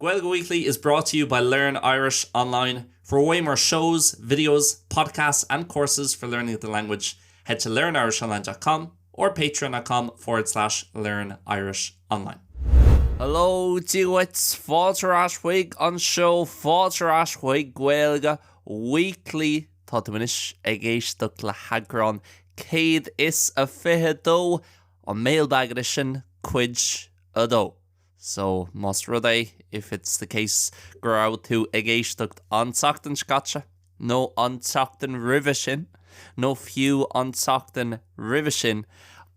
Gaeilge Weekly is brought to you by Learn Irish Online. For way more shows, videos, podcasts and courses for learning the language, head to learnirishonline dot com or patreon dot com forward slash learn irish online. Hello, Dia dhuit, fáilte ar ais chuig an seó, fáilte ar ais chuig Gaeilge Weekly. Tá tú anois ag éisteacht le heagrán 122 an Mailbag Edition, Cuid 2. So, más rud é, if it's the case, go raibh tú ag éisteacht an tseachtain seo caite, nó an tseachtain roimhe sin, nó fiú an tseachtain roimhe sin,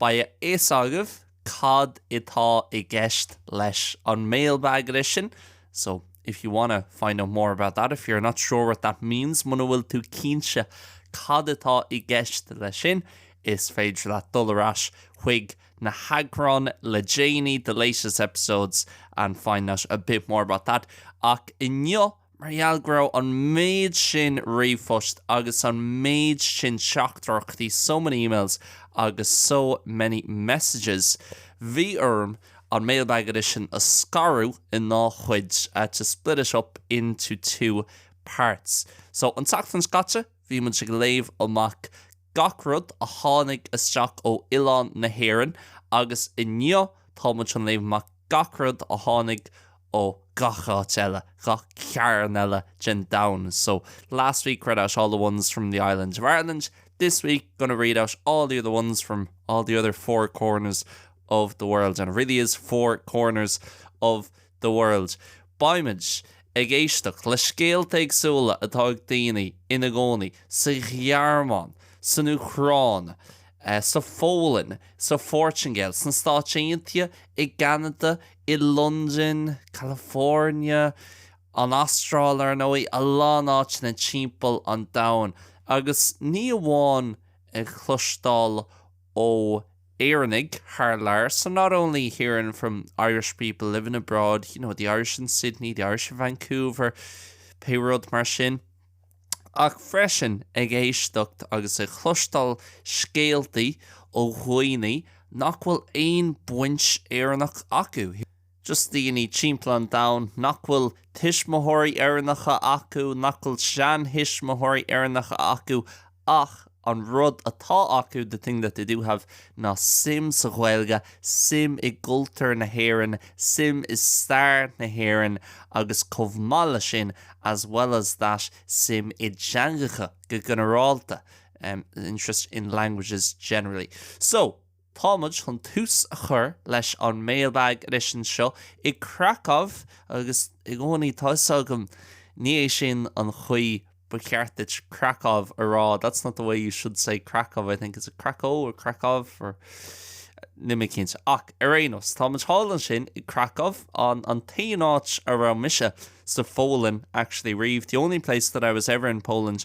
beidh a fhios agaibh cad atá i gceist leis an Mailbag Edition. So, if you wanna find out more about that, if you're not sure what that means, muna bhfuil tú cinnte cad atá i gceist leis sin, is féidir leat dul ar ais chuig. na heagráin le déanaí, the latest episodes, and find out a bit more about that. Ach inniu, mar gheall go raibh an méid sin ríomhphost agus an méid sin teachtaireachtaí, so many emails, agus so many messages, bhí orm an Mailbag Edition a scaradh ina dhá chuid, to split it up into two parts. So, an tseachtain seo caite, bhí muid ag léamh amach gach rud a tháinig isteach ó oileán na hÉireann agus inniu tá muid chun léamh amach gach rud a tháinig ó gach áit eile, gach cearn eile den domhan. So, last week read out all the ones from the island of Ireland, this week gonna read out all the other ones from all the other four corners of the world and it really is four corners of the the world. Beimid ag éisteacht le scéalta éagsúla atá ag daoine ina gcónaí sa Ghearmáin, san Úcráin, sa Pholainn, sa Phortaingéil, sna Stáit Aontaithe, i gCeanada, i Londain, California, an Astráil, ar ndóigh, a lán áiteanna timpeall an domhain. Agus ní amháin ag cloisteáil ó Éireannaigh thar lear, so not only hearing from Irish people living abroad, you know, the Irish in Sydney, the Irish in Vancouver, pé rud mar sin, ach freisin ag éisteacht agus ag cloisteáil scéaltaí ó dhaoine nach bhfuil aon baint Éireannach acu. just daoine timpeall an domhain nach bhfuil tuismitheoirí Éireannacha acu, nach bhfuil seantuismitheoirí Éireannacha acu ach an rud atá acu, the thing that they do have, ná suim sa Ghaeilge, suim i gcultúr na hÉireann, suim i stair na hÉireann agus chomh maith leis sin, as well as that, suim i dteangacha go ginearálta, interest in languages generally. So. Tá muid chun tús a chur leis an Mailbag Edition seo i Krakow agus i gcónaí tá 'fhios agam, ní é sin an chaoi ba cheart duit Krakow a rá, that's not the way you should say Krakow, I think, is it Cracó or Krakow or. níl mé cinnte. Ach ar aon nós, tá muid thall ansin i Krakow, an an t-aon áit a raibh mise sa Pholainn actually riamh, the only place that I was ever in Poland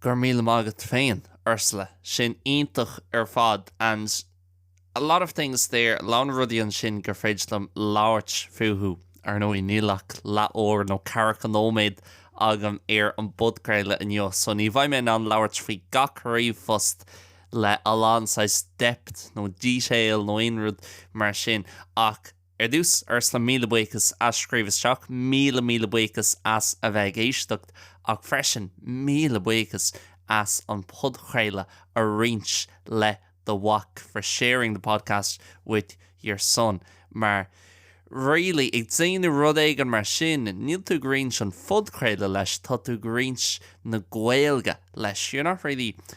Go raibh míle maith agat féin, Ursula. Sin iontach ar fad and a lot of things there, a lán rudaí ansin gur féidir liom labhairt fúthu. Ar ndóigh, níl ach leathuair nó ceathracha nóiméad agam ar an bpodchraoladh inniu, so ní bheidh mé in ann labhairt faoi gach ríomhphost le a lán saghas depth nó detail nó aon rud mar sin ach, Ar dtús, Ursula, míle buíochas as scríobh isteach, míle míle buíochas as a bheith ag éisteacht, ach freisin míle buíochas as an podchraoladh a roinnt le do mhac, for sharing the podcast with your son. Mar really, ag déanamh rud éigin mar sin, níl tú ag roinnt an phodchraoladh leis, tá tú ag roinnt na Gaeilge leis. You're not really.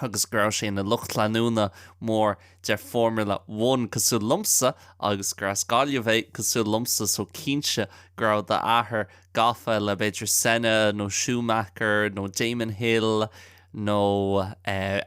agus go raibh sé ina lucht leanúna mór de Formula One cosúil liomsa agus gur as Gaillimh é cosúil liomsa so cinnte go raibh d'athair gafa le b'fhéidir Senna nó Schumacher nó Damon Hill nó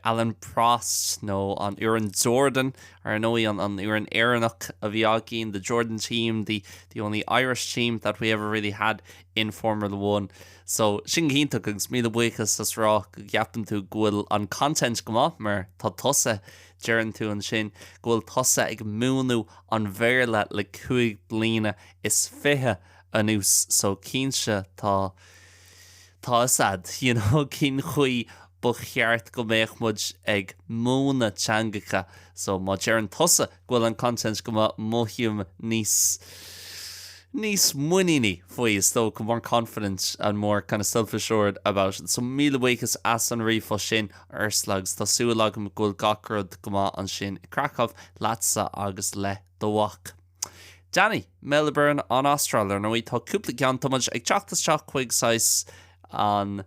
Alain Prost nó an fhoireann Jordan ar ndóigh an an fhoireann Éireannach a bhí againn, the Jordan team, the the only Irish team that we ever really had in Formula One. So, sin go hiontach agus míle buíochas as a rá go gceapann tú go bhfuil an content go maith mar tá tusa, deireann tú ansin go bhfuil tusa ag múineadh an Bhéarla le cúig bliana is fiche anuas so cinnte tá, tá 'fhios a'd, you know, cén chaoi ba cheart go mbeadh muid ag múineadh teangacha so má deireann tusa go bhfuil an content go maith mothaím níos níos muiníní faoi is dócha more confident and more kind of self-assured about it. So míle buíochas as an ríomhphost sin Ursula agus tá súil agam go bhfuil gach rud go maith ansin i Krakow leatsa agus le do mhac. Danny, Melbourne, an Astráil. Ar ndóigh, tá cúpla ceann tá muid ag teacht isteach chuig saghas An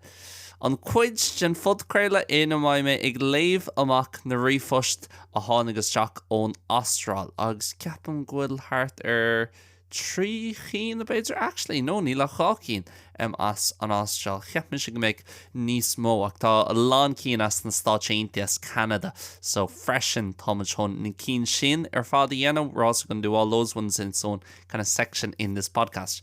an cuid den phodchraoladh ina mbeidh mé ag léamh amach na ríomhphost a tháinig isteach ón Astráil agus ceapaim go bhfuil thart ar trí chinn b'fhéidir actually no níl ach dhá cinn em as an Astráil cheap mise go mbeadh níos mó ach tá a lán cinn as na Stáit Aontaithe as Ceanada so freisin tá muid chun na cinn sin ar fad a dhéanamh we're also going to do all those ones in its own kind of section in this podcast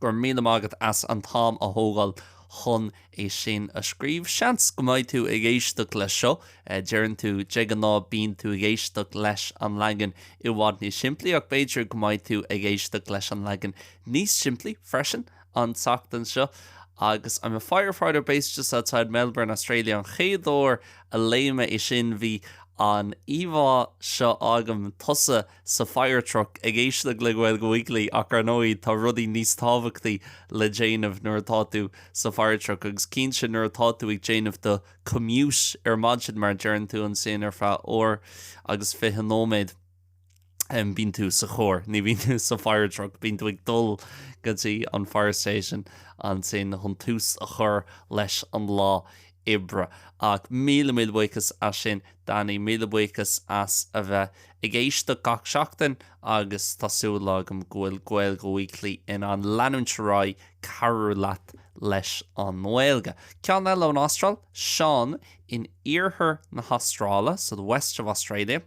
Go raibh míle maith agat as an t-am a thógáil chun é sin a scríobh. Seans go mbeidh tú ag éisteacht leis seo, deireann tú, de ghnáth bíonn tú ag éisteacht leis an leagan i bhfad níos simplí, ach b'fhéidir go mbeidh tú ag éisteacht leis an leagan níos simplí freisin an tseachtain seo. Agus I'm a firefighter based just outside Melbourne, Australia an chéad uair a léigh mé é sin bhí an íomhá seo agam, tusa, sa fire truck ag éisteacht le Gaeilge Weekly ach ar ndóigh tá rudaí níos tábhachtaí le déanamh nuair atá tú sa fire truck agus cinnte nuair atá tú ag déanamh do commute ar maidin mar deireann tú ansin ar feadh uair agus fiche nóiméad bíonn tú sa charr ní bhíonn tú sa fire truck bíonn tú ag dul go dtí an fire station ansin chun tús a chur leis an lá oibre. Ach míle, míle buíochas as sin, Danny. Míle buíochas as a bheith ag éisteacht gach seachtain agus tá súil agam go bhfuil Gaeilge Weekly in ann leanúint ar aghaidh cabhrú leat leis an nGaeilge. Ceann eile ón Astráil, Sean in iarthar na hAstráile, so the west of Australia.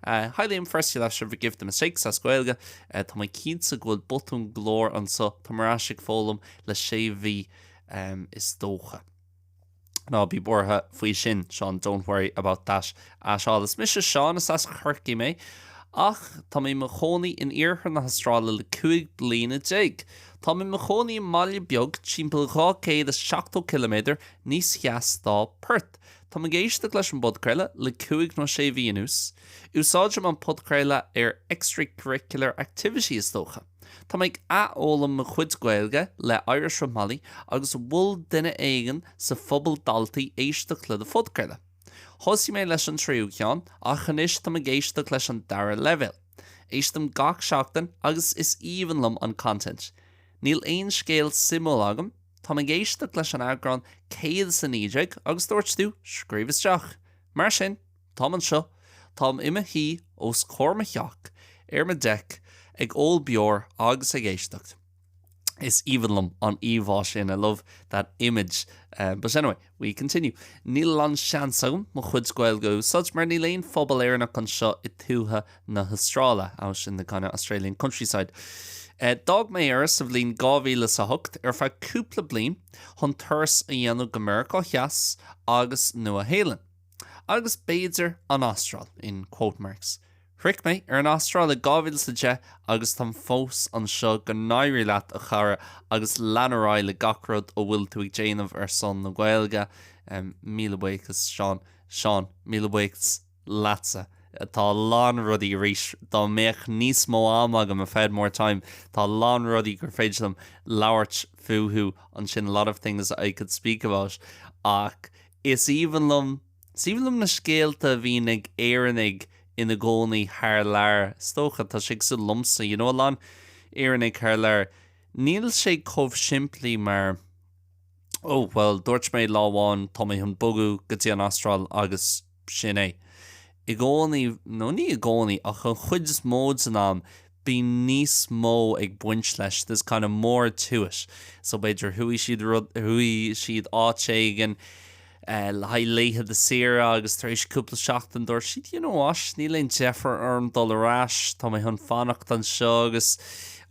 Hi Liam, firstly, you'll have to forgive the mistakes, as Gaeilge. Tá mé cinnte go bhfuil botún go leor anseo, tá mé ar ais ag foghlaim le sé mhí is dócha. Ná bí buartha faoi sin, Seán, don't worry about that at all. Is mise Seán, is as Chorcaigh mé, ach tá mé i mo chónaí in iarthar na hAstráile le 15 bliana. Tá mé i mo chónaí i mbaile beag timpeall 270 ciliméadar níos theas dá Perth. Táim ag éisteacht leis an bpodchraoladh le cúig nó sé mhí anuas. Úsáidim an podchraoladh ar extracurricular activity, is dócha. Tá mé ag athfhoghlaim mo chuid Gaeilge le Irish with Molly agus mhol duine éigin sa phobal daltaí éisteacht le do phodchraoladh. Thosaigh mé leis an tríú ceann ach anois tá mé ag éisteacht leis an dara leibhéal. Éistim gach seachtain agus is aoibhinn liom an content. Níl aon scéal suimiúil agam. Tá mé ag éisteacht leis an eagrán 119 agus dúirt tú scríobh isteach. Mar sin. Táim anseo, táim i mo shuí os comhair mo theach, ar mo deic, ag ól beoir agus ag éisteacht. Is aoibhinn liom an íomhá sin, I love that image. But anyway, we continue. Níl an-seans agam mo chuid Gaeilge a úsáid mar níl aon phobal Éireannach anseo i tuaithe na hAstráile, out in the kind of Australian countryside. D'fhág mé Éire sa bhliain dhá mhíle is a hocht ar feadh cúpla bliain chun turas a dhéanamh go Meiriceá Theas agus Nua-Shéalainn. Agus b'fhéidir an Astráil, in quote marks. Shroich mé an Astráil i 2010 agus táim fós anseo, go n-éirí leat a chara agus lean ar aghaidh le gach rud a bhfuil tú ag déanamh ar son na Gaeilge. Míle buíochas Seán. Seán, míle buíochas leatsa. Tá a lán rudaí arís, dá mbeadh níos mó am agam, if I had more time, tá a lán rudaí gur féidir liom labhairt fúthu ansin, a lot of things I could speak about, ach Is aoibhinn liom, is aoibhinn liom na scéalta a bhíonn ag Éireannaigh ina gcónaí thar lear, is dócha. Tá sé cosúil liomsa, you know, a lán Éireannaigh thar lear, níl sé chomh simplí mar, oh, bhuel, dúirt mé lá amháin, tá mé chun bogadh go dtí an Astráil agus sin é. I gcónaí, nó ní i gcónaí, ach an chuid is mó san am, bíonn níos mó ag baint leis, there's kind of more to it. So b'fhéidir chuaigh, chuaigh siad áit éigin le haghaidh laethanta saoire agus tar éis cúpla seachtain dúirt siad you know what, níl aon deifir orm dul ar ais, tá mé chun fanacht anseo agus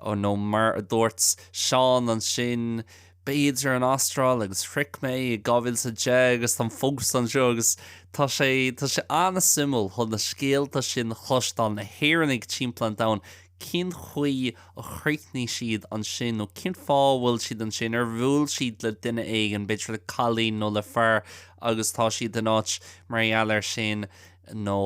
nó mar a dúirt Seán ansin, b'fhéidir, an Astráil agus shroich mé i 2010 agus táim fós anseo agus tá sé, tá sé an-suimiúil chun na scéalta sin a chloisteáil, na hÉireannaigh timpeall an domhain, cén chaoi a chríochnaigh siad ansin nó cén fáth a bhfuil siad ansin, ar bhuail siad le duine éigin, b'fhéidir cailín nó le fear agus tá siad in áit mar gheall air sin nó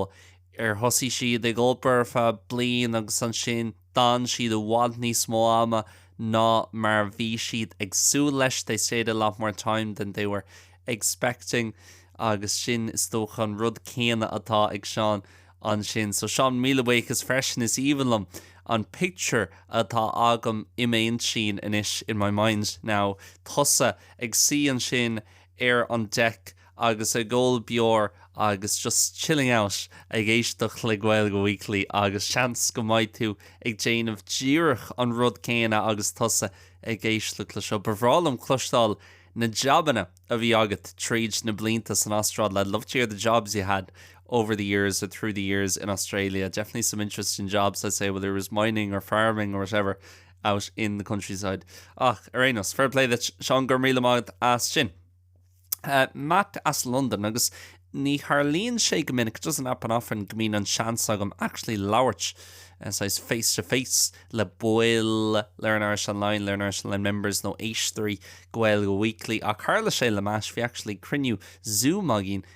ar thosaigh siad ag obair ar feadh bliain agus ansin D'fhan siad i bhfad níos mó ama ná mar a bhí siad ag súil leis, they stayed a lot more time than they were expecting, agus sin is dócha an rud céanna atá ag Seán ansin. So Seán, míle buíochas freisin, is aoibhinn liom an pictiúr atá agam i m'intinn anois, in my mind now, tusa ag suí ansin ar an deic agus ag ól beoir agus just chilling out ag éisteacht le Gaeilge Weekly agus seans go mbeidh tú ag déanamh díreach an rud céanna agus tusa ag éisteacht le seo. Ba bhreá liom cloisteáil na jabanna a bhí agat tríd na blianta san Astráil. I'd love to hear the jobs you had over the years or through the years in Australia. Definitely some interesting jobs, I'd say, whether it was mining or farming or whatever. out in the countryside. Ach, ar aon nós, fair play duit, Seán, go raibh míle maith agat as sin. Matt as Londain agus ní tharlaíonn sé go minic, it doesn't happen often, go mbíonn an seans agam actually labhairt eh, saghas face to face le baill Learn Irish Online, Learn Irish Online members nó éisteoirí Gaeilge Weekly ach tharla sé le Matt, bhí actually cruinniú Zoom againn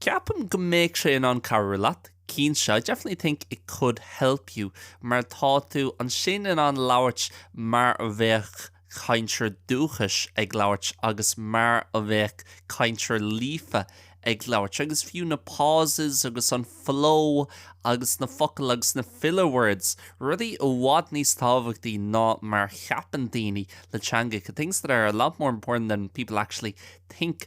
Ceapaim go mbeadh sé in ann cabhrú leat, cinnte, I definitely think it could help you, mar tá tú ansin in ann labhairt mar a bheadh cainteoir dúchais ag labhairt agus mar a bheadh cainteoir líofa ag labhairt agus fiú na pauses agus an flow agus na focail agus na filler words, rudaí i bhfad níos tábhachtaí ná mar a cheapann daoine le teangacha, things that are a lot more important than people actually think.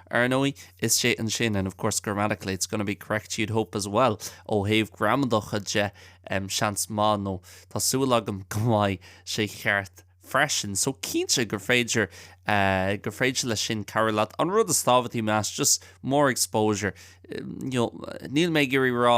Ar ndóigh, is sé ansin, and of course grammatically it's going to be correct you'd hope as well, ó thaobh gramadacha de, em, seans maith nó tá súil agam go mbeidh sé cheart freisin. So cinnte gur féidir, eh, gur féidir leis sin cabhrú leat. An rud is tábhachtaí, measaim, just more exposure. You know, níl mé ag iarraidh a rá,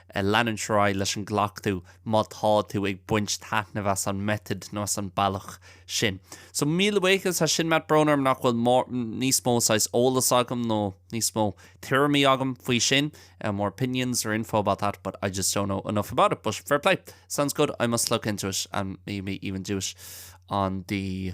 Leanúint ar aghaidh leis an gcleachtadh má tá tú ag baint taitneamh as an method nó as an bealach sin. So, míle buíochas as sin, Matt, brón orm nach bhfuil níos mó saghas eolas agam nó níos mó tuairimí agam faoi sin, more opinions or info about that but I just don't know enough about it but fair play, sounds good, I must look into it and maybe even do it on the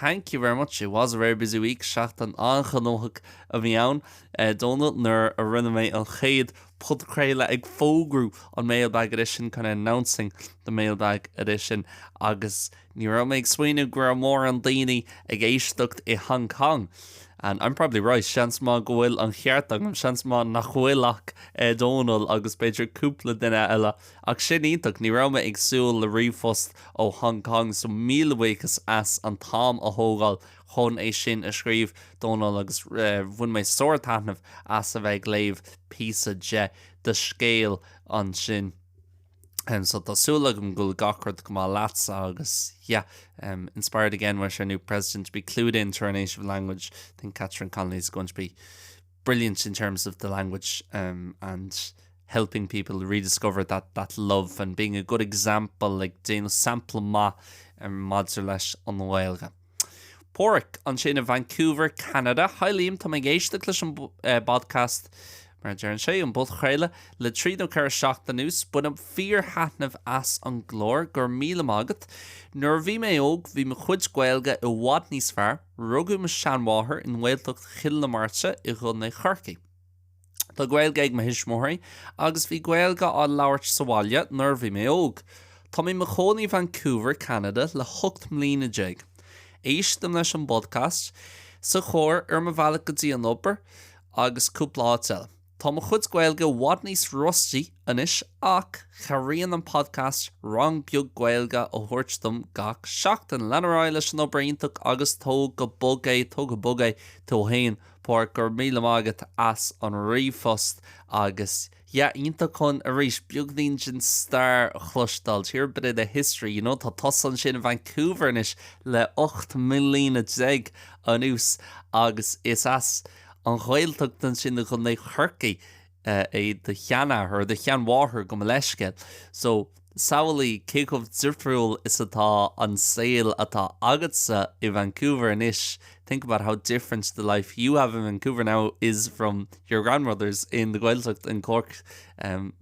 Thank you very much, it was a very busy week, seachtain an-ghnóthach a bhí ann, a Dónal, nuair a rinne mé an chéad podchraoladh ag fógrú an Mailbag Edition, kind of announcing the Mailbag Edition, agus ní raibh mé ag smaoineamh go raibh mórán daoine ag éisteacht i Hong Kong, and I'm probably right, seans maith go bhfuil an cheart agam, seans maith nach bhfuil ach, a Dónal, agus b'fhéidir cúpla duine eile. Ach sin iontach. Ní raibh mé ag súil le ríomhphost ó Hong Kong so míle buíochas as an t-am a thógáil chun é sin a scríobh, Dónal, agus bhain mé sár-taitneamh as a bheith ag léamh píosa de do scéal ansin. So tá súil agam go bhfuil gach rud go maith leatsa agus yeah, inspired again with our new President to be clued in to our native language, I think Catherine Connolly is going to be brilliant in terms of the language um and helping people rediscover that that love and being a good example, ag déanamh sampla maith um maidir leis an nGaeilge. Páraic, ansin i Vancouver, Ceanada. Hi Liam, táim ag éisteacht leis an eh bpodcast, mar a deireann sé, an bpodchraoladh, le trí nó ceithre seachtaine anuas. Bainim fíor-thaitneamh as an gclár. Go raibh míle maith agat. Nuair a bhí mé óg, bhí mo chuid Gaeilge i bhfad níos fearr. Rugadh mo sheanmháthair i nGaeltacht Chill na Martra i gContae Chorcaí. Tá Gaeilge ag mo thuismitheoirí agus bhí Gaeilge á labhairt sa bhaile nuair a bhí mé óg. Tá mé i mo chónaí i Vancouver, Ceanada le hocht mbliana déag. Éistim leis an bpodcast sa charr ar mo bhealach go dtí an obair agus cúpla áit eile. Tá mo chuid Gaeilge i bhfad níos rusty anois ach cabhraíonn an podcast rang beag Gaeilge a thabhairt dom gach seachtain. Lean ar aghaidh leis an obair iontach agus tóg go bog é, tóg go bog é tú féin! Pádraic, go raibh míle maith agat as an ríomhphost agus yeah, iontach chun arís beagnín den stair a chloisteáil, to hear a bit of the history, you know. Tá tusa ansin i Vancouver anois le ocht mbliana déag anuas agus is as. an Ghaeltacht ansin i gContae Chorcaí é do sheanathair, do sheanmháthair, gabh mo leithscéal. So, samhlaigh cé chomh difriúil is atá an saol atá agatsa i Vancouver anois, think about how different the life you have in Vancouver now is from your grandmother's in the Gaeltacht in Cork, an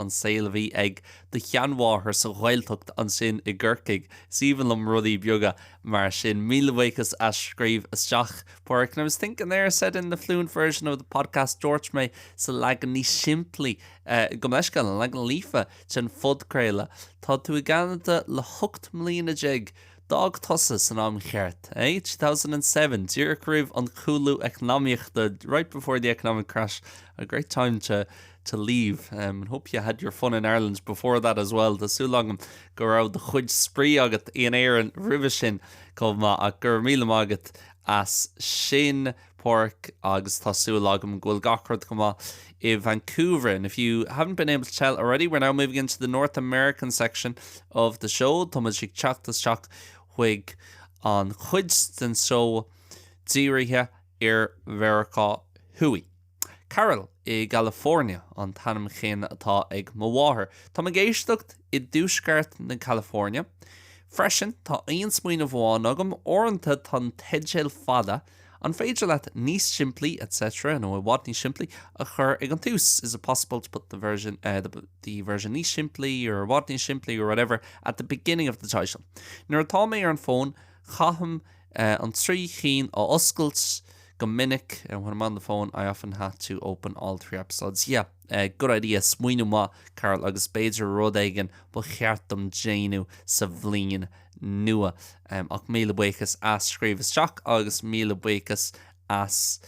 saol a bhí ag do sheanmháthair sa Ghaeltacht ansin i gCorcaigh. Is aoibhinn liom rudaí beaga mar sin. Míle buíochas as scríobh isteach. Pádraic. And I was thinking there, I said in the fluent version of the podcast, dúirt mé sa leagan níos simplí eh, gabh mo leithscéal, an leagan líofa den phodchraoladh. Tá tú i gCeanada le hocht mbliana déag. D'fhág tusa san am cheart, eh? 2007, díreach roimh an cúlú eacnamaíochta, right before the economic crash, a great time to leave and hope you had your fun in Ireland before that as well Tá súil agam go raibh do chuid spraoi agat in Éirinn roimhe sin chomh maith ach go raibh míle maith agat as sin Pádraic agus tá súil agam go bhfuil gach rud go maith i Vancouver and if you haven't been able to tell already we're now moving into the North American section of the show Tá muid ag teacht isteach chuig an chuid den seó dírithe ar Mheiriceá Thuaidh Carol i gCalifornia an t-ainm céanna atá ag mo mháthair. Táim ag éisteacht i dtuaisceart California freisin. Tá aon smaoineamh amháin agam, uaireanta tá na teidil fada, An féidir leat níos simplí, etc. nó i bhfad níos simplí, a chur ag an tús, Is it possible to put the version níos simplí, or i bhfad níos simplí, or whatever, at the beginning of the title? Nuair atá mé ar an bhfón, caithim an trí chinn a oscailt go minic when I'm on the phone I often have to open all three episodes yeah good idea smaoineamh maith Carol agus b'fhéidir rud éigin ba cheart dom déanamh sa bhliain nua ach míle buíochas as scríobh isteach agus míle buíochas as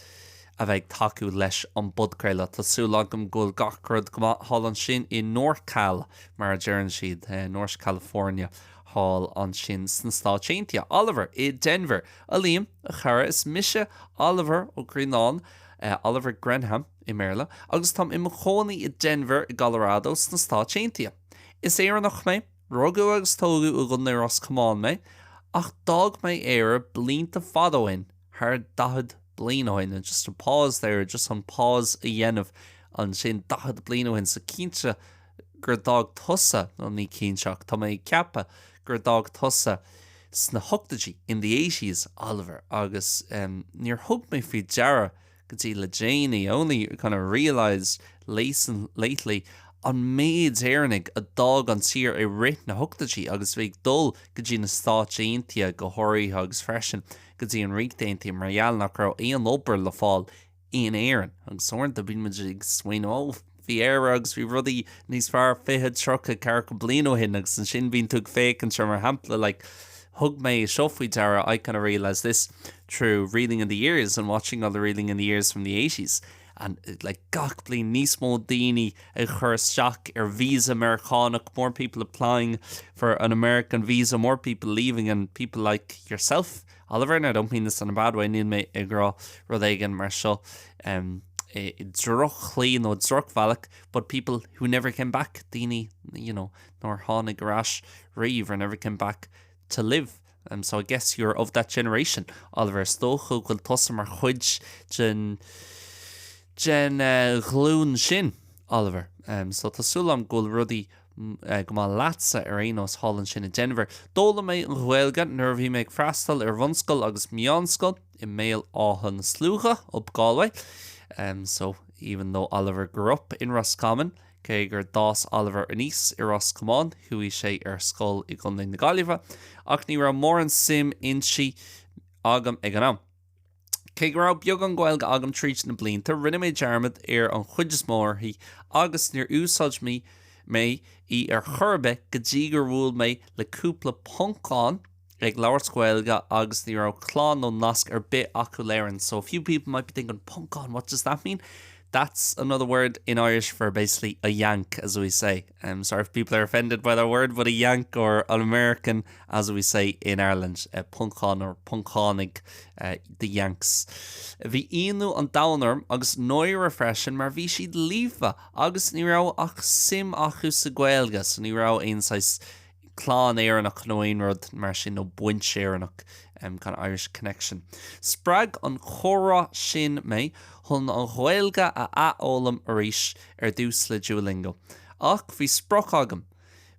a bheith ag tacú leis an bpodchraoladh. Tá súil agam go bhfuil gach rud go maith thall ansin i Norcal mar a deireann siad, North California. Thall ansin sna Stáit Aontaithe. Oliver i Denver. A Liam, a chara, is mise Oliver Ó Graonáin, Oliver Grenham i mBéarla, agus táim i mo chónaí i Denver i gColorado sna Stáit Aontaithe. Is Éireannach mé, rugadh agus tógadh i gContae Ros Comáin mé, ach d'fhág mé Éire blianta fada ó shin, thar daichead bliain ó shin, and just a pause there, just chun pause a dhéanamh ansin, daichead bliain ó shin, so cinnte, gur d'fhág tusa, nó ní cinnte ach tá mé ag ceapadh gur d'fhág tusa sna hochtaidí, in the eighties, Oliver, agus em, níor thug mé faoi deara go dtí le déanaí, only kind of realised lately, an méid Éireannaigh a d'fhág an tír i rith na hochtaidí agus a bhí ag dul go dtí na Stáit Aontaithe go háirithe agus freisin go dtí an Ríocht Aontaithe mar gheall nach raibh aon obair le fáil in Éirinn. Agus uaireanta bíonn muid ag smaoineamh, oh, bhí Éire agus bhí rudaí níos fearr 20, 30, 40 bliain ó shin agus ansin bíonn tú ag féachaint ar mar shampla like thug mé seo faoi deara I kind of realised this through reeling in the years and watching all the reeling in the years from the 80s and like gach bliain níos mó daoine ag chur isteach ar visa Meiriceánach more people applying for an American visa more people leaving and people like yourself Oliver, I don't mean this in a bad way, níl mé ag rá rud éigin mar seo i drochchaoi nó i drochbhealach, but people who never came back, daoine, you know, nár tháinig ar ais riamh, or never came back to live. So I guess you're of that generation. Oliver, Is dócha go bhfuil tusa mar chuid den, den ghlúin sin. Oliver, So tá súil agam go bhfuil rudaí. Go maith leatsa ar aon nós thall ansin i Denver. D'fhoghlaim mé an Ghaeilge nuair a bhí mé ag freastal ar bhunscoil agus meánscoil i mBéal Átha na Sluaighe, up Galway. em, so, even though Oliver grew up in Roscommon, cé gur d'fhás Oliver aníos i Ros Comáin, chuaigh sé ar scoil i gContae na Gaillimhe, ach ní raibh mórán suim inti, agam ag an am. Cé go raibh beagán Gaeilge agam tríd na blianta, rinne mé dearmad ar an chuid is mó uirthi agus níor úsáid mé í ar chor ar bith go dtí gur bhuail mé le cúpla Poncán ag labhairt Gaeilge agus ní raibh clann nó nasc ar bith acu le hÉirinn. So a few people might be thinking, Poncán, what does that mean? That's another word in Irish for basically a yank, as we say. Um, sorry if people are offended by that word, but a yank or an American, as we say in Ireland, uh, Poncán or Poncánaigh, uh, the Yanks. Bhí ionadh an domhain orm agus náire freisin mar bhí siad líofa agus ní raibh ach suim acu sa Gaeilge, so ní raibh aon saghas clann Éireannach nó aon rud mar sin, nó baint Éireannach, kind of Irish connection. Spreag an comhrá sin mé chun an Ghaeilge a athfhoghlaim arís, ar dtús le Duolingo. Ach bhí sprioc agam.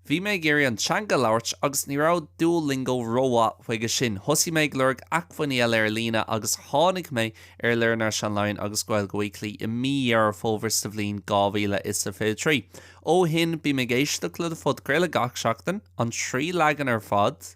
Bhí mé ag iarraidh an teanga a labhairt agus ní raibh Duolingo rómhaith chuige sin. Thosaigh mé ag lorg acmhainní eile ar líne agus tháinig mé ar Learn Irish Online agus Gaeilge Weekly i mí Dheireadh Fómhair sa bhliain dhá mhíle is a fiche trí. Ó shin bím ag éisteacht le do phodchraoladh gach seachtain, an trí leagan ar fad.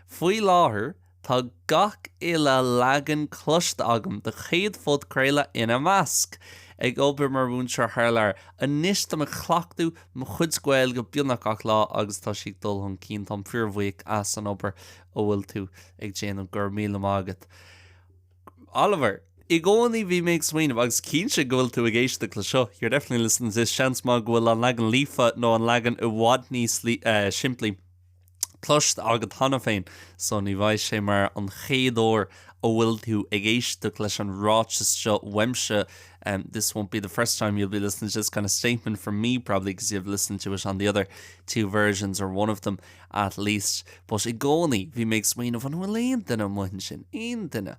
Faoi láthair tá gach uile leagan cloiste agam, do chéad phodchraoladh ina measc! Ag obair mar mhúinteoir thar lear anois, táim ag cleachtadh mo chuid Gaeilge beagnach gach lá agus tá sí ag dul chun cinn. Táim fíorbhuíoch as an obair a bhfuil tú ag déanamh, go raibh míle maith agat! Oliver, i gcónaí bhí mé ag smaoineamh, agus cinnte go bhfuil tú ag éisteacht le seo, you're definitely listening to this, seans maith go bhfuil an leagan líofa nó an leagan i bhfad níos simplí cloiste agat cheana féin, so ní bheidh sé mar an chéad uair a bhfuil tú ag éisteacht leis an ráiteas seo uaimse, this won't be the first time you'll be listening to this kind of statement from me, probably because you've listened to it on the other two versions or one of them. at least, but i gcónaí bhí mé ag smaoineamh, an bhfuil aon duine amuigh ansin, aon duine a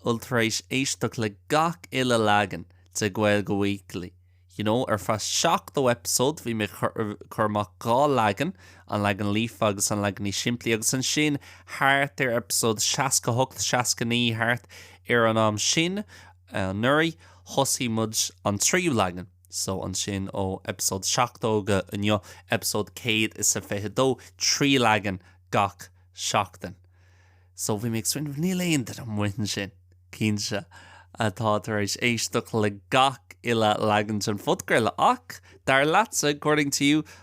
bhfuil tar éis éisteacht le gach uile leagan de Gaeilge Weekly, you know, ar feadh 70 eipeasóid, bhí mé ag cur amach dhá leagan, an leagan líofa agus an leagan níos simplí, agus ansin thart ar eipeasóid 68, 69, thart ar an am sin, anuraidh, thosaigh muid an tríú leagan. So ansin ó eipeasóid 70 go inniu, eipeasóid 122, trí leagan gach seachtain. So bhí mé ag smaoineamh, níl aon duine amuigh ansin, cinnte, atá tar éis éisteacht le gach uile leagan den phodchraoladh. Ach, dar leatsa, according to you,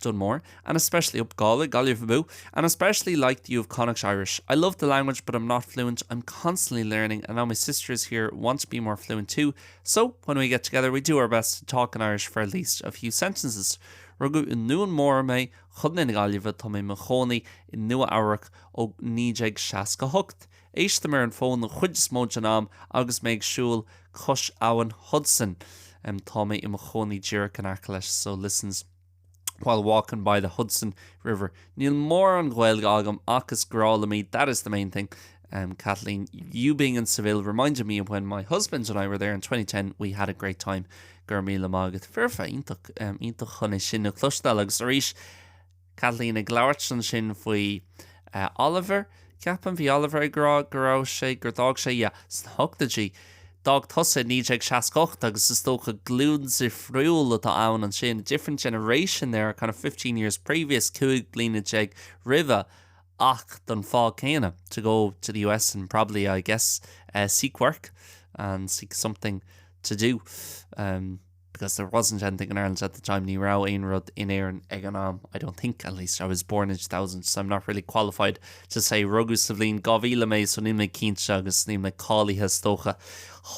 Done more, and especially up Gàidhlig, Gaillimh abú, and especially liked you of Connacht Irish. I love the language but I'm not fluent, I'm constantly learning and now my sister is here, want to be more fluent too. So when we get together we do our best to talk in Irish for at least a few sentences. Rugadh i Nuan Mór mé chun na Gaillimhe tá mé mo chónaí i Nua Eabhrac ó 1968. Éistim ar an bhfón an chuid is mó den am agus mé ag siúl cois abhainn Hudson. Tá mé i mo chónaí díreach in aice leis, so listens while walking by the Hudson River. Níl mórán Gaeilge agam ach is grá liom í, that is the main thing. Kathleen, you being in Seville reminded me when my husband and I were there in 2010, we had a great time. Go raibh míle maith agat. Foirfe, iontach chun é sin a chloisteáil agus arís, Kathleen ag labhairt ansin faoi eh, Oliver, ceapaim, bhí Oliver ag rá go raibh sé, gur d'fhág sé, yeah, sna hochtaidí. D'fhág tusa i 1968 agus is dócha glúin difriúil atá ann ansin, a different generation there, kind of fifteen years previous, cúig bliana déag roimhe ach don fáth céanna, to go to the US and probably, I guess, eh, seek work and seek something to do. em. because there wasn't anything in Ireland at the time, ní raibh aon rud in Éirinn ag an am, I don't think, at least, I was born in 2000, so I'm not really qualified to say, rugadh sa bhliain 2000 mé, so níl mé cinnte agus níl mé cáilithe, is dócha,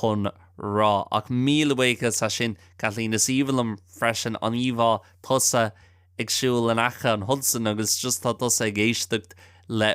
chun rá. Ach míle buíochas as sin, Kathleen, is aoibhinn liom freisin an íomhá tusa ag siúl in aice an Hudson agus just tá tusa ag éisteacht le.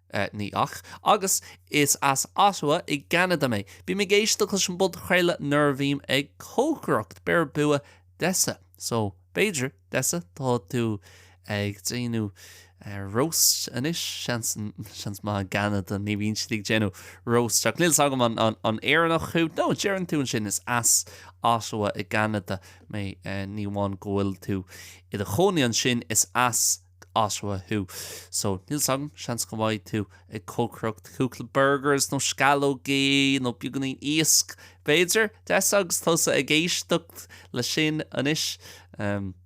Ní ach. Agus is as Ottawa i gCeanada mé. Bím ag éisteacht leis an bpodchraoladh nuair a bhím ag cócaireacht. Beir bua Dessa. So, b'fhéidir, Dessa, tá tú ag déanamh roast anois? Seans, seans maith. I gCeanada, ní bhíonn siad ag déanamh roast. Ach níl 's agam an an Éireannach thú. No, deireann tú ansin, is as Ottawa i gCeanada mé. Ní amháin go bhfuil tú i do chónaí ansin, is as. Ottawa thú, so níl 's agam, seans go mbeidh tú ag cócaireacht cúpla burgers nó sceallógaí nó beagáinín iasc, b'fhéidir, Des, agus tusa ag éisteacht leis seo anois.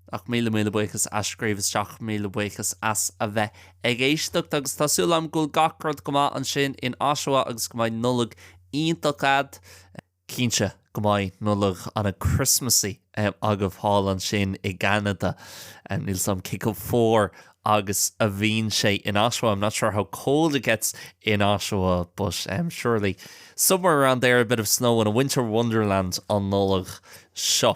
Ach míle, míle buíochas as scríobh isteach, míle buíochas as a bheith ag éisteacht agus tá súil agam go bhfuil gach rud go maith ansin in Ottawa agus go mbeidh Nollaig iontach a'd. Cinnte go mbeidh Nollaig ana Christmassy agaibh thall ansin i gCeanada. Níl 's a'm cé chomh fuar agus a bhíonn sé in Ottawa, I'm not sure how cold it gets in Ottawa, but surely somewhere around there a bit of snow in a winter wonderland an Nollaig seo.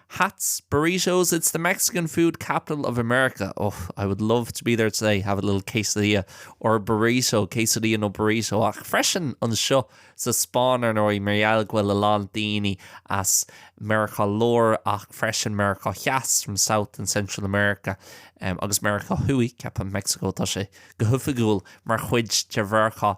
Hats, burritos, it's the Mexican food capital of America. Oh, I would love to be there today, have a little quesadilla or a burrito, quesadilla nó burrito, ach freisin anseo sa Spáinn, ar ndóigh, mar gheall go bhfuil a lán daoine as Meiriceá Láir ach freisin Meiriceá Theas, from South and Central America, agus Meiriceá Thuaidh, ceapaim, Meicsiceo, tá sé go hoifigiúil mar chuid de Mheiriceá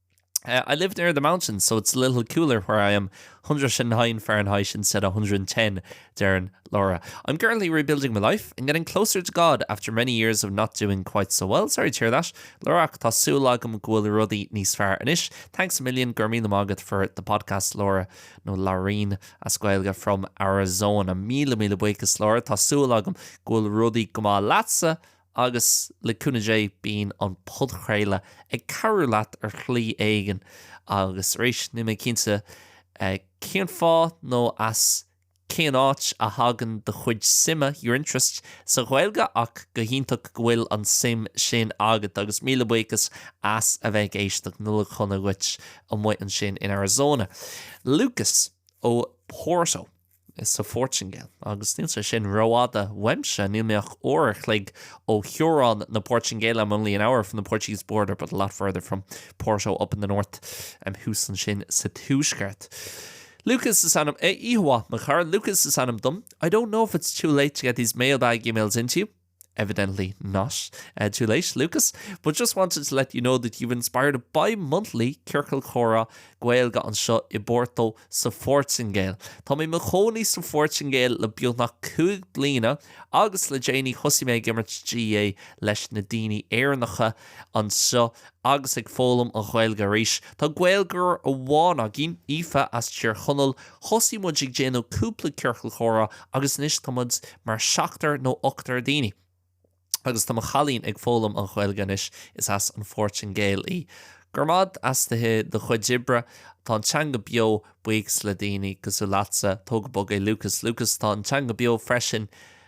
I live near the mountains so it's a little cooler where I am, 109 Fahrenheit instead of 110, deireann Laura. I'm currently rebuilding my life and getting closer to God after many years of not doing quite so well, sorry to hear that. Laura, ach tá súil agam go bhfuil rudaí níos fearr anois. Thanks a million, go raibh míle maith agat for the podcast, Laura, nó Laurín as Gaeilge from Arizona. Míle míle buíochas, Laura, tá súil agam go bhfuil rudaí go maith leatsa Agus, le cúnamh Dé, bíonn an podchraoladh ag cabhrú leat ar shlí éigin. Agus arís, níl mé cinnte cén fáth nó as cén áit a thagann do chuid suime, your interest, sa Ghaeilge ach go hiontach go bhfuil an suim sin agat agus míle buíochas as a bheith ag éisteacht. Nollaig shona dhuit amuigh ansin in Arizona. Lucas ó Porto. sa Phortaingéil. Agus níl sé sin rófhada uaimse, níl mé ach uair a chloig ó theorainn na Portaingéile, I'm only an hour from the Portuguese border but a lot further from Porto up in the north, em thuas ansin sa tuaisceart. Lucas is ainm, eh, oíche mhaith, mo chara, Lucas is ainm dom. I don't know if it's too late to get these mailbag emails into you. evidently not too late, Lucas, but just wanted to let you know that you've inspired a bi-monthly Ciorcal Comhrá Gaeilge anseo i bPorto sa Phortaingéil. Tá mé i mo chónaí sa Phortaingéil le beagnach cúig bliana agus le déanaí thosaigh mé ag imirt GAA leis na daoine Éireannacha anseo Agus ag foghlaim an Ghaeilge arís. Tá Gaeilgeoir amháin againn, Aoife, as Tír Chonaill. Thosaigh muid ag déanamh cúpla ciorcal comhrá agus anois tá muid mar seachtar nó ochtar daoine. Agus tá mo chailín ag foghlaim an Ghaeilge anois, is as an Phortaingéil í. Grma as do chuid oibre. Tá an teanga beo, buíochas le daoine cosúil leatsa. Tóg go bog é Lucas. Lucas, tá an teanga beo freisin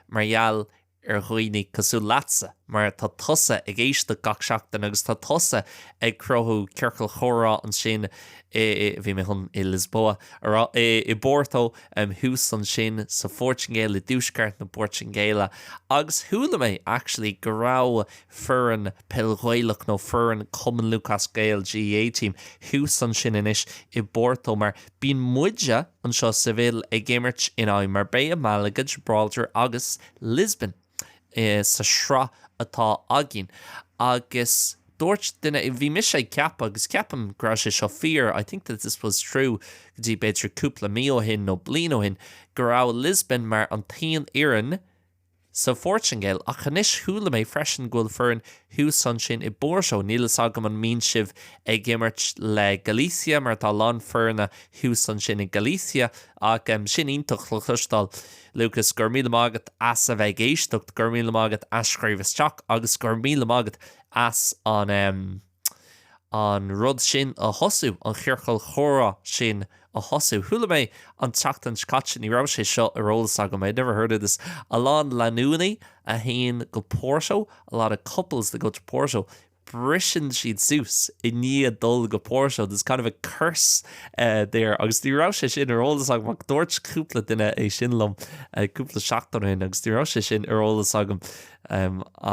mar gheall ar dhaoine cosúil leatsa mar tá tusa ag éisteacht gach seachtain agus tá tusa ag cruthú ciorcal comhrá ansin i, bhí mé chun i Lisboa a rá, i bPorto em thuas ansin sa Phortaingéil, i dtuaisceart na Portaingéile agus chuala mé actually go raibh foireann peil Ghaelach nó foireann Cumann Lúthchleas Gael GAA team thuas ansin anois i bPorto mar bíonn muide anseo i Seville ag imirt in aghaidh Marbella, Malaga, Gibraltar agus Lisbon sa sraith atá againn agus dúirt duine, bhí mise ag ceapadh agus ceapaim go raibh sé seo fíor, I think that this was true, go dtí b'fhéidir cúpla mí ó shin nó bliain ó shin, go raibh Lisbon mar an t-aon fhoireann sa Phortaingéil, ach anois chuala mé freisin go bhfuil foireann thuas ansin i bPorto. Níl fhios agam an mbíonn sibh ag imirt le Galicia, mar tá a lán foirne thuas ansin i Galicia. Ach sin iontach le cloisteáil, Lucas, go raibh míle maith agat as a bheith ag éisteacht, go raibh míle maith agat as scríobh isteach agus go raibh míle maith agat as an. an rud sin a thosú, an chiorcal comhrá sin a thosú. Chuala mé an tseachtain seo caite, ní raibh sé seo ar eolas agam, I never heard of this, a lán lanúiní a théann go Porto, a lot of couples that go to Porto, briseann siad suas i ndiaidh dul go Porto, there's kind of a curse there agus ní raibh sé sin ar eolas agam ach dúirt cúpla duine é sin liom cúpla seachtain ó shin agus ní raibh sé sin ar eolas agam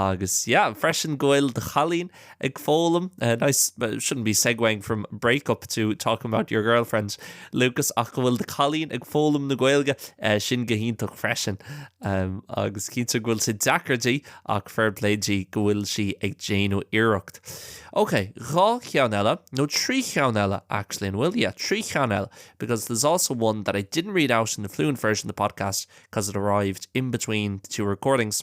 agus yeah freisin go bhfuil do chailín ag foghlaim, nice, shouldn't be segueing from break up to talking about your girlfriend, Lucas, ach go bhfuil do cailín ag foghlaim na Gaeilge, sin go hiontach freisin. Agus cinnte go bhfuil sé deacair di, ach fair play di go bhfuil sí ag déanamh iarracht. Ok, dhá cheann eile, nó trí cheann eile actually an bhfuil? Yeah, trí cheann eile, because there's also one that I didn't read out in the fluent version of the podcast, 'cause it arrived in between the two recordings.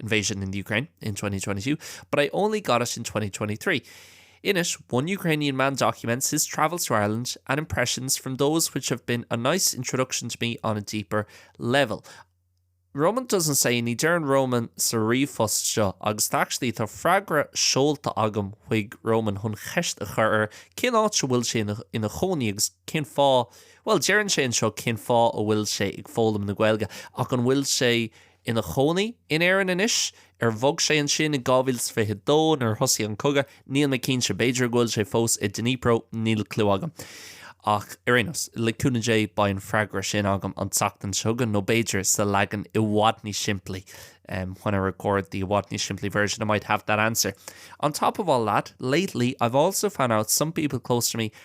invasion in Ukraine in 2022, but I only got it in 2023. In it, one Ukrainian man documents his travels through Ireland and impressions from those which have been a nice introduction to me on a deeper level. Roman doesn't say, ní deireann Roman sa ríomhphost seo, agus tá actually, tá freagra seolta agam chuig Roman chun ceist a chur air cén áit a bhfuil sé ina chónaí agus cén fáth, bhuel, deireann sé anseo cén fáth a bhfuil sé ag foghlaim na Gaeilge, ach an bhfuil sé, ina chónaí in Éirinn anois. Ar bhog sé ansin in 2022 nuair a thosaigh an cogadh? Níl mé cinnte. B'fhéidir go bhfuil sé fós i Dnipro, níl cliú agam. Ach ar aon nós, le cúnamh Dé beidh an freagra sin agam an tseachtain seo chugainn, nó b'fhéidir sa leagan i bhfad níos simplí when I record the i bhfad níos simplí version I might have that answer. On top of all that, lately I've also found out some people close to me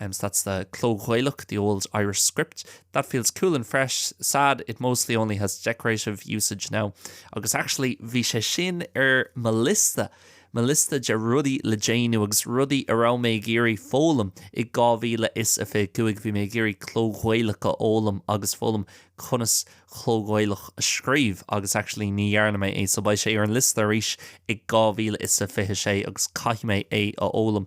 Um, that's the Cló-Ghaelach, the old Irish script. That feels cool and fresh. Sad, it mostly only has decorative usage now. Agus actually, bhí sé sin ar mo liosta, mo liosta de rudaí le déanamh agus rudaí a raibh mé ag iarraidh foghlaim i 2025. Bhí mé ag iarraidh Cló-Ghaelach a fhoghlaim agus foghlaim conas Cló-Ghaelach a scríobh agus actually ní dhearna mé é so beidh sé ar an liosta arís i 2026 agus caithfidh mé é a fhoghlaim.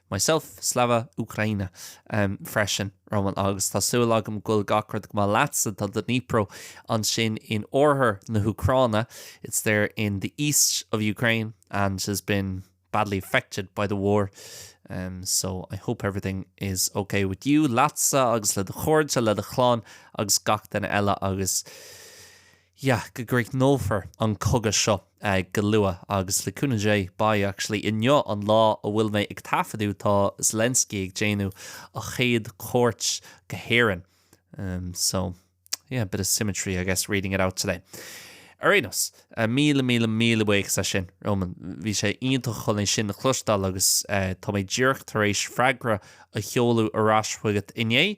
Myself, Slava Ukraina, freisin, Roman, agus tá súil agam go bhfuil gach rud go maith leatsa, tá Dnipro ansin in oirthear na hÚcráine, it's there in the east of Ukraine and has been badly affected by the war, so I hope everything is ok with you, leatsa agus le do chairde, le do chlann agus gach duine eile agus. Yeah, go gcríochnófar an cogadh seo go luath agus le cúnamh Dé beidh, actually inniu an lá a bhfuil mé ag taifeadadh tá Zelensky ag déanamh a chéad chuairt go hÉirinn. em, so yeah, bit of symmetry I guess reading it out today. Ar aon nós, míle míle míle buíochas as sin, Roman, bhí sé iontach chun é sin a chloisteáil agus eh, tá mé díreach tar éis freagra a sheoladh ar ais chugat inné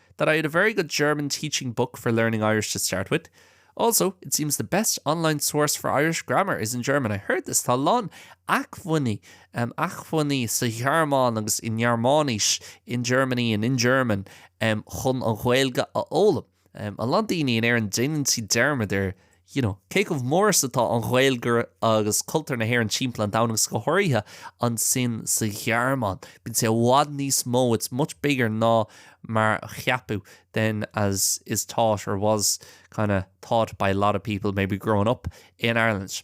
that I had a very good German teaching book for learning Irish to start with. Also, it seems the best online source for Irish grammar is in German. I heard this. Tá a lán acmhainní um, acmhainní sa Ghearmáin agus i nGearmáinis in Germany and in German um, chun an Ghaeilge a fhoghlaim. Um, a lán daoine in Éirinn déanann siad dearmad ar you know, cé chomh mór is atá an Ghaeilge agus cultúr na hÉireann timpeall an domhain, agus go háirithe ansin sa Ghearmáin, bíonn sé i bhfad níos mó, it's much bigger ná mar a cheapfadh than as is thought or was kind of thought by a lot of people maybe growing up in Ireland.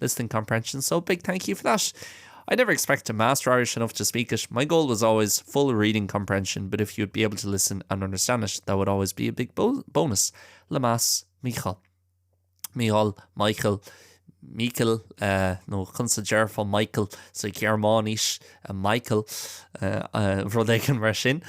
Listening comprehension so big thank you for that. I never expected master Irish enough to speak it, my goal was always full reading comprehension but if you would be able to listen and understand it that would always be a big bonus. Lemass Mícheál. Mícheál, Michael, Míchael, uh, nó chunsa dearfá Michael sa so Gearmáinís, uh, Michael, uh, uh, rud éigean mar sin.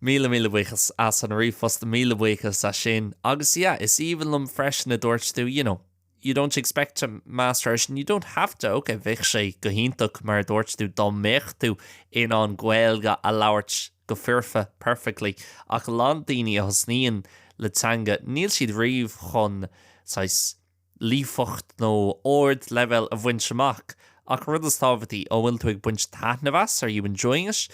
Míle míle buchas as an ríomhphost, míle buchas as sin, agus yeah, is even lom freisin a dúirt tú, you know, You don't expect to master it, and you don't have to. Ok, bheadh sé go hiontach, mar a dúirt tú, dá mbeadh tú in ann Gaeilge a labhairt go foirfe, perfectly, ach a lán daoine a thosnaíonn le teanga, níl siad riamh chun, saghas, líofacht nó ard-leibhéal a bhaint amach. Ach an rud is tábhachtaí, an bhfuil tú ag baint taitneamh as? Are you enjoying it?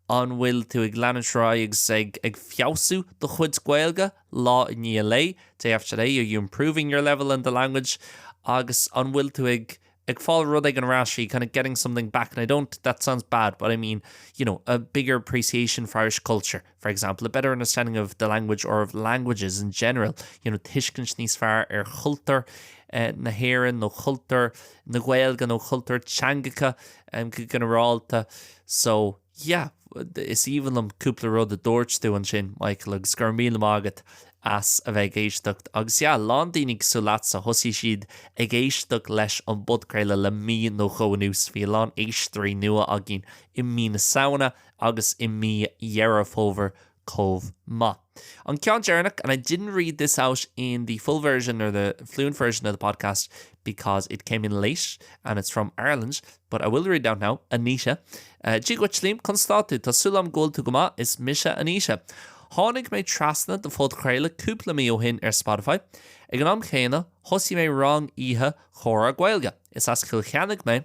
An bhfuil tú ag leanúint ar aghaidh agus ag feabhsú do chuid Gaeilge? lá i ndiaidh lae, day after day, are you improving your level in the language agus an bhfuil tú ag ag fáil rud éigin ar ais, are you kind of getting something back and I don't, that sounds bad but I mean you know a bigger appreciation for Irish culture, for example, a better understanding of the language or of languages in general, you know tuiscint níos fearr ar chultúr na hÉireann nó chultúr na Gaeilge nó chultúr teangacha um, go ginearálta. So, Yeah, is aoibhinn liom cúpla rud a dúirt tú ansin, Michael, agus go raibh míle maith agat as a bheith ag éisteacht. Agus yeah, a lán daoine cosúil leatsa, thosaigh siad ag éisteacht leis an bpodchraoladh le mí nó dhó anuas. Bhí a lán éisteoirí nua againn i mí na Samhna agus i mí Dheireadh Fómhair chomh maith. An ceann deireanach and I didn't read this out in the full version or the fluent version of the podcast because it came in late and it's from Ireland but I will read it out now, Aníse, Dia dhuit, Liam, conas atá tú? Tá súil agam go bhfuil tú go maith, is mise Aníse. Tháinig mé trasna do phodchraoladh cúpla mí ó shin ar Spotify. Ag an am chéanna, thosaigh mé rang oíche comhrá Gaeilge. Is as Cill Chainnigh mé.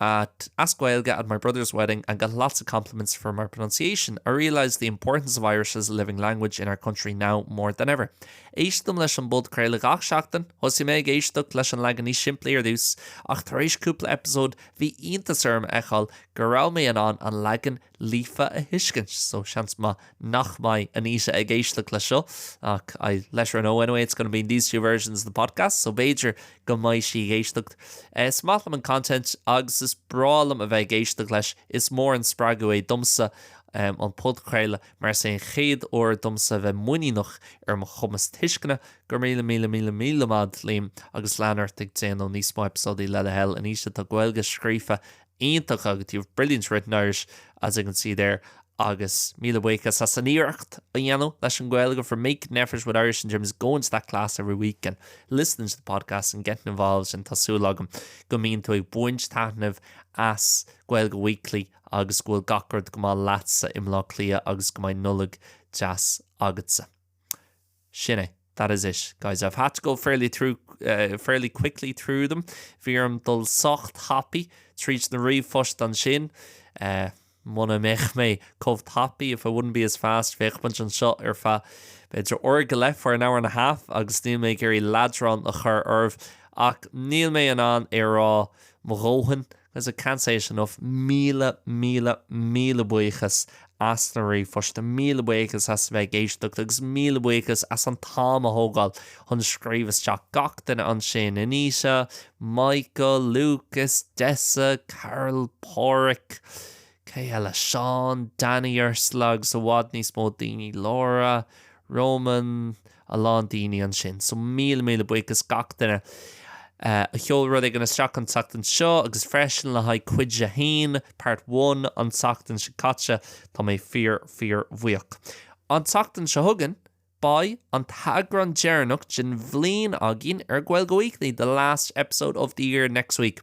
at as Gaeilge at my brother's wedding and got lots of compliments for my pronunciation. I realised the importance of Irish as a living language in our country now more than ever. Éistim leis an bpodchraoladh gach seachtain, thosaigh mé ag éisteacht leis an leagan níos simplí ar dtús, ach tar éis cúpla eipeasóid bhí iontas orm a fheiceáil go raibh mé in ann an leagan Líofa a thuiscint. So seans maith nach mbeidh Aníse ag éisteacht le seo ach I'll let her know anyway it's going to be in these two versions of the podcast so b'fhéidir go mbeidh sí ag éisteacht. Is maith liom an content agus is breá liom a bheith ag éisteacht leis, is mór an spreagadh é domsa um, an podchraoladh mar is é an chéad uair domsa a bheith muiníneach ar mo chumas tuisceana. Go raibh míle míle míle míle maith agat, Liam, agus lean ort ag déanamh níos mó eipeasóidí le do thoil. Aníse, tá Gaeilge scríofa iontach agat, you have brilliant written Irish as you can see there agus míle buíochas as an iarracht a dhéanamh leis an Ghaeilge for making an effort with Irish in terms of going to that class every week and listening to the podcast and getting involved and tá súil agam go mbíonn tú ag baint taitneamh as Gaeilge Weekly agus go bhfuil gach rud go maith leatsa i mBlá Cliath agus go mbeidh Nollaig deas agatsa. Sin é. That is it, guys. I've had to go fairly through, uh, fairly quickly through them. Bhí orm dul sách tapaidh tríd na ríomhphoist ansin. Uh, Muna mbeadh mé chomh tapaidh, if I wouldn't be as fast, bheadh muid anseo ar feadh b'fhéidir uair go leith for an hour and a half agus níl mé ag iarraidh leadrán a chur oraibh ach níl mé in ann é a rá mo dhóthain As I can't say it enough, míle, míle, míle buíochas as na ríomhphoist, míle buíochas as bheith ag éisteacht agus míle buíochas as an t-am a thógáil chun scríobh isteach, gach duine ansin, Anita, Michael, Lucas, Dessa, Carol, Páraic, cé eile? Seán, Danny, Ursula agus i bhfad níos mó daoine, Laura, Roman, a lán daoine ansin. So míle míle buíochas gach duine a sheol rud éigin isteach an tseachtain seo agus freisin le haghaidh cuid a haon, part one, an tseachtain seo caite. Tá mé fíor fíor bhuíoch. An tseachtain seo chugainn, beidh an t-eagrán deireanach den bhliain againn ar Gaeilge Weekly, the last episode of the year next week.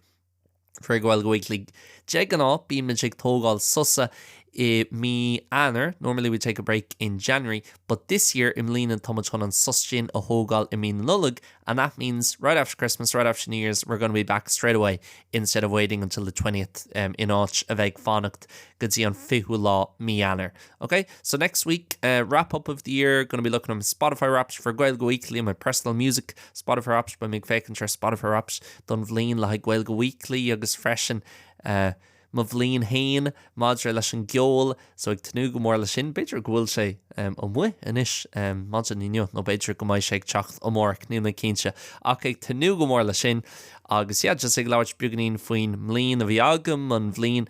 For Gaeilge Weekly. De gnáth bímid ag tógáil sosa i mí Eanáir, normally we take a break in January, but this year i mbliana táimid chun an sos sin a thógáil i mí na Nollag and that means right after Christmas, right after New Year's, we're going to be back straight away instead of waiting until the 20th um, in áit a bheith ag fanacht go dtí an 20ú lá mí Eanáir. Ok, so next week, uh, wrap up of the year, gonna be looking at my Spotify Wrapped for Gaeilge Weekly and my personal music Spotify Wrapped, beidh mé ag féachaint ar Spotify Wrapped don bhliain le haghaidh Gaeilge Weekly agus freisin uh, mo bhliain féin maidir leis an gceol, so ag tnúth go mór le sin, b'fhéidir go bhfuil sé um, amuigh anois um, maidin inniu, nó b'fhéidir go mbeidh sé ag teacht amárach, níl mé cinnte, ach ag tnúth go mór le sin, agus yeah, just ag labhairt beagainín faoin mbliain a bhí agam, an bhliain